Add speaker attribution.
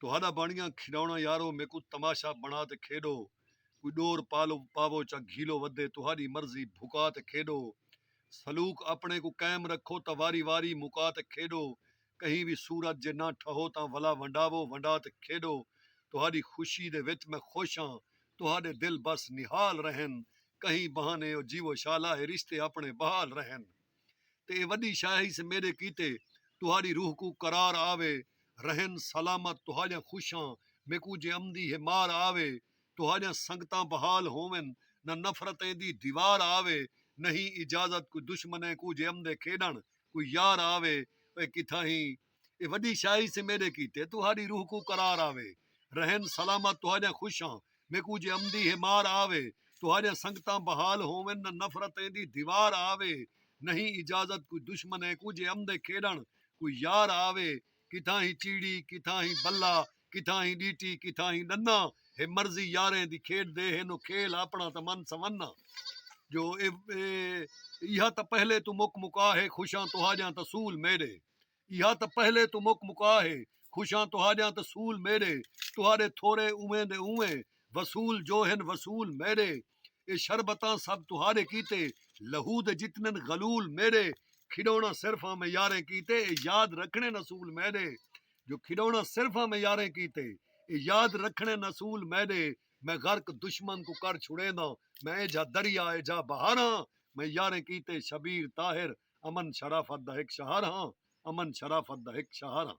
Speaker 1: تہاݙا بݨیاں کھیݙوݨا یارو میکوں تماشا بݨا تے کھیݙو کوئی ݙور پالو پاوو چا گھیلو ودے تہاݙی مرضی بھکا تے کھیݙو سلوک اپݨے کوں قائم رکھو تاں واری واری مکا تے کھیݙو کہیں وی صورت جے نہ ٹھہو تاں ولا ونڈاوو ونڈا تے کھیݙو تہاݙی خوشی دے وچ میں خوش ہاں تہاݙے دل بس نہال رہن کہیں بہانے او جیوو شالا اے رشتے اپݨے بحال رہن۔ تے اے وݙی شاہی سے میݙے کیتے تہاݙی روح کوں قرار آوے رہن سلامت تہاݙیاں خوشاں میکوں جے امدی ہے مار آوے تہاݙیاں سنگتاں بحال ہوون نہ نفرتیں دی دیوار آوے نہیں اجازت کوئی دشمنیں کوں جے امدے کھیݙݨ کوئی یار آوے اے کتھاہیں اے وڈی شاعری سے میڈے کیتے تہاڈی روح کوں قرار آوے رہن سلامت تہاڈیاں خوشاں میکوں جے امدی ہے مار آوے تہاڈیاں سنگتاں بحال ہوون نہ نفرت ایندی دیوار آوے نہیں اجازت کوئی دشمن ہے کوں جے امدے کھیڈن کوئی یار آوے کتھاں ہی چیڑی کتھاں ہی بلا کتھاں ہی ڈیٹی کتھاں ہی ڈنا ہے مرضی یاریں دی کھیڈ دے ہے نو کھیل اپنا تاں من سمنا جو اے اے ایہا تاں پہلے تو مک مکا ہے خوشاں تہاڈیاں تاں سول میڈے ایہا تاں پہلے توں مک مکا ہے خوشاں تہاڈیاں تاں سول میڈے تہاڈے تھورے اونویں دے اونویں وصول جو ہن وصول میڈے اے شربتاں سب تہاڈے کیتے لہو دے جتنن غلول میڈے کھڈونا صرف آمیں یاریں کیتے اے یاد رکھنن اصول میڈے جو کھڈونا صرف آمیں یاریں کیتے اے یاد رکھنن اصول میڈے میں غرق دشمن کوں کر چھڑینداں میں اے جھا دریا اے جھا بہاراں میں یاریں کیتے شبیر طاہر امن شرافت دا ہک شہر ہاں امن شرافت دا ہک شہر ہاں۔